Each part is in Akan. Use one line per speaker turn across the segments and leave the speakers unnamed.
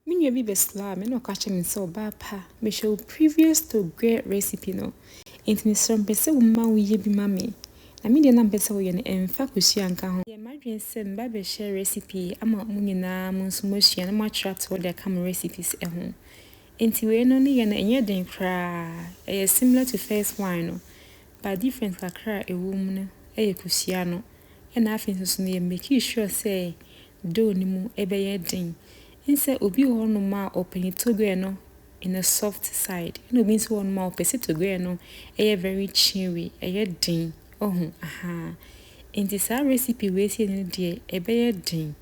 Me nua bi bɛslaa me na ɔka kyerɛɛ me sɛ ɔbaa pa mehwɛ wo previous toguɛ recipe no nti mesrɛ mepɛ sɛ wo ma wo yɛ bi ma me na me deɛ na mpɛ sɛ wo yɛ no ɛnfa kosua nka ho. Yɛ madwene sɛ meba bɛ share recipe yi ama mo nyinaa mo nso moasua na moakyerɛ atoɔ de aka mo recipes ho nti wei no ne yɛ no ɛnyɛ den koraa ɛyɛ similar to first one no but difference kakra a ɛwɔ mu no yɛ kosua no. Nna afei so so no yɛ makii sure sɛ dough no mu bɛyɛ den. Nsɛ obi wɔ hɔ nom a ɔpɛ ne togoɛ no in a soft side ɛna obi nso wɔ hɔ nom a ɔpɛ sɛ togoɛ no yɛ very chewy, ɛyɛ den, wahu ahaa. Nti saa recipe wei sei no deɛ ɛbɛyɛ den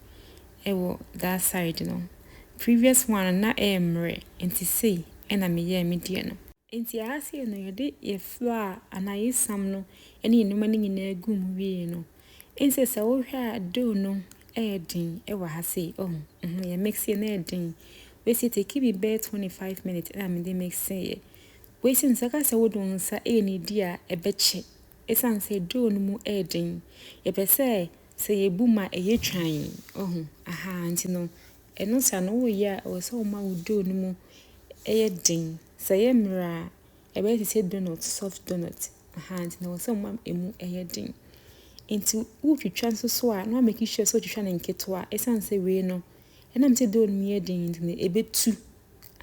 wɔ that side no. Previous one no na ɛyɛ mmerɛ nti sei na meyɛɛ me deɛ no. Enti ɛha sei no yɛde yɛn flo a anaa yɛn sam no ne yɛn nneɛma no nyinaa gu mu wie no, ɛnsɛ sɛ wohwɛ a dough no ɛyɛ den wɔ ha sei, oh, mm, yɛ mixie no ɛyɛ den. Wesi take bi bɛyɛ 25 minutes ɛna mede mixie yɛ. Wesi no sɛ ka sɛ wode wo nsa ɛyɛ ne di a ɛbɛkye, ɛsiane sɛ dough no mu ɛyɛ den. Yɛpɛ sɛ sɛ yɛbu mu a ɛyɛ twann, oh, aha, nti no ɛno saa no woyɛ a ɛwɔ sɛ woma wo dough no mu ɛyɛ den. Sɛ ɛyɛ mmerɛ a, ɛbɛyɛ te sɛ donut, soft donut, ahaa, nti na ɛwɔ sɛ woma ɛmu yɛ den. Nti wotwitwa nso so a, na woa make sure sɛ wotwitwa no nketewa, ɛsiane sɛ wei no, ɛnam sɛ dough no yɛ den nti no, ɛbɛtu,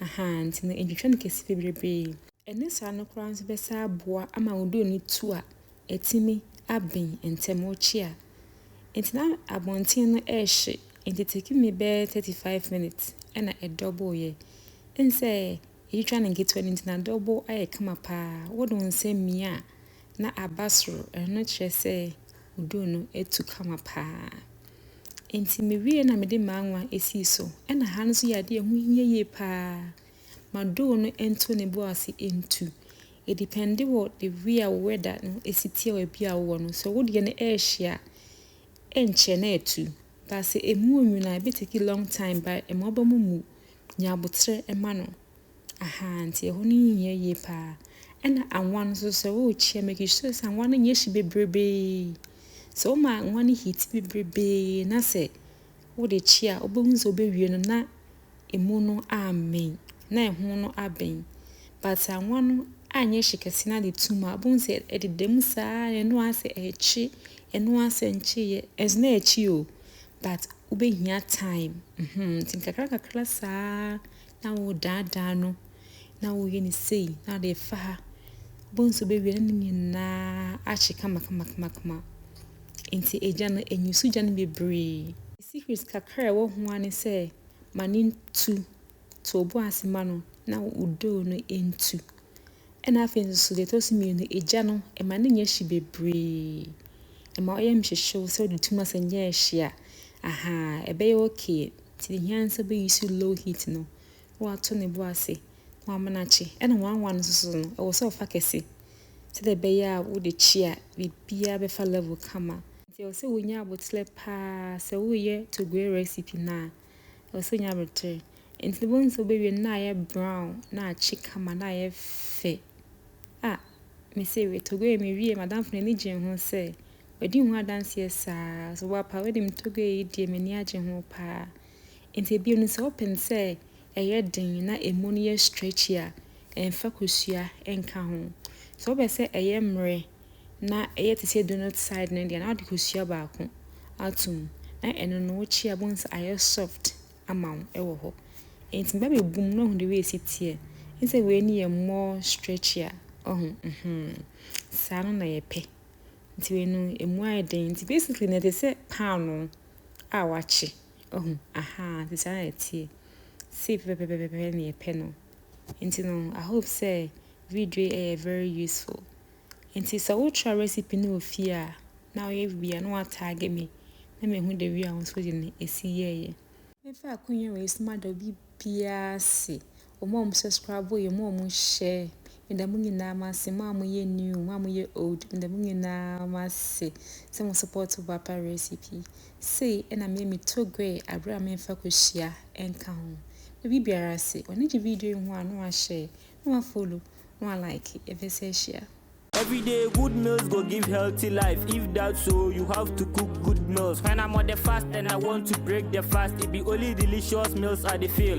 ahaa, nti no ntwitwa no kɛse bebrebee. Ɛnyɛ saa no koraa nso bɛsaa boa ama wo dough no tu a, atumi aben ntɛm ɔkyea. Nti na abɔnten no ɛhye nti taking me bɛyɛ thirty five minutes ɛna ɛ double yɛ. Wohu sɛ yɛtwitwa no nketewa no nti na double ayɛ kama paa. Wode wo nsa mia a na aba soro ɛno kyerɛ sɛ wo duro no atu kama paa. Nti mewie na mede m'anwa sii so. Ɛna ha nso yɛ adeɛ a ɛho hia yie paa. Ma doo no nto ne bo ase ntu. Edepɛnde wɔ the way a wo weather no si tse a beebi a wowɔ no. Sɛ wo deɛ no ɛɛhye a, ɛnkyɛ na atu. But sɛ emu onwin a, ebe take long time but ɛma woba mu mu. Nya aboterɛ ma no. Ahaa nti ɛhɔ no nyɛ yie paa. Ɛna anwa no nso sɛ worekyea make sure sɛ anwa no nyɛ hye bebrebee. Sɛ woma anwa no heati bebrebee na sɛ wode kye a, wobɛhu sɛ wobɛwie no na. emu no ammɛn, na ɛho no abɛn, but anwa no anyɛ hye kɛse na de tum a, wobɛhu sɛ ɛdeda mu saa na ɛno ara sɛ ɛrekye, ɛno ara sɛ nkyeeɛ, ɛnso na ɛrekye o, but wobɛhia time, mm-hmm, nti nkakra nkakra saa na wodaadaa no, na woyɛ no sei, na wode fa ha, wobɛhu sɛ wobɛwie na ne nyinaa ahye kama kama kama kama. Enti agya no anyi so gya no bebree. Ne secret kakra a ɛwɔ ho ara ne sɛ ma no ntu. To wo bo ase ma no na wo doo no ntu. Ɛna afei nso so deɛ ɛtɔ so mmienu, agya no ma no nyɛ hye bebree. Ma ɔyɛ mhyehyew sɛ ɔde tum asɛ nyɛ hye a, ahaa, ɛbɛyɛ okay. Nti deɛ ɛhia ara ne sɛ wobɛyi so low heat no. na wato ne bo ase, na wamenakye, ɛna wanwa no nso no, ɛwɔ sɛ ɔfa kɛse, sɛdeɛ ɛbɛyɛ a wode kye a, biribiara bɛfa level kama. Nti ɛwɔ sɛ wonya aboterɛ paa, sɛ woreyɛ togoe recipe no a, ɛwɔ sɛ wonya aboterɛ. Nti no wobɛhu sɛ wobɛwie no na ayɛ brown, na akye kama, na ayɛ fɛ. Ah, mese wei, togoe mewie, m'adamfo no ani gyee ho sɛ, wadi ho adanseɛ saa, so wo a paa, wonim togoe yi deɛ m'ani agye ho paa. Enti bio no sɛ wopen sɛ ɛyɛ den na ɛmu no yɛ stretchy a, mfa kosua nka ho. Sɛ wopɛ sɛ ɛyɛ mmerɛ na ɛyɛ te sɛ donut side no deɛ na wode kosua baako ato mu na ɛno no wokye a wobɛhu sɛ ayɛ soft ama wo ɛwɔ hɔ. Enti meba bɛbu mu na woahu deɛ wei si teɛ. Wohu sɛ wei no yɛ more stretchy a, wahu? Mhmm. Saa no na yɛpɛ. Nti wei no ɛmu ayɛ den. Nti basically no ɛte sɛ paanoo. a wɔakye, wahu, ahaa, nti saa na ɛteɛ, sei pɛpɛpɛpɛpɛ na yɛpɛ no, nti no I hope sɛ video yi ɛyɛ very useful, nti sɛ wo try recipe no wɔ fie a na woyɛ bi a na wa tag me na mehu the way a wo nso de no ɛsi yɛɛyɛ. Mɛfa akonnwa wei so mada obi biara ase Wɔn a wɔn subscribe yɛ mo a wɔn share meda mo nyinaa mo ase mo a mo yɛ new mo a mo yɛ old meda mo nyinaa mo ase sɛ mo support bapa recipe sei ɛna me me to gwe abere a memfa kɔhyia ɛnka ho baabi biara ase wɔne gye video yi ho a na wahyɛ na wafollow na wa like ɛbɛ sɛ ahyia Every day, good
meals go give healthy life. If that's so, you have to cook good meals. When I'm on the fast and I want to break the fast, it be only delicious meals I dey feel.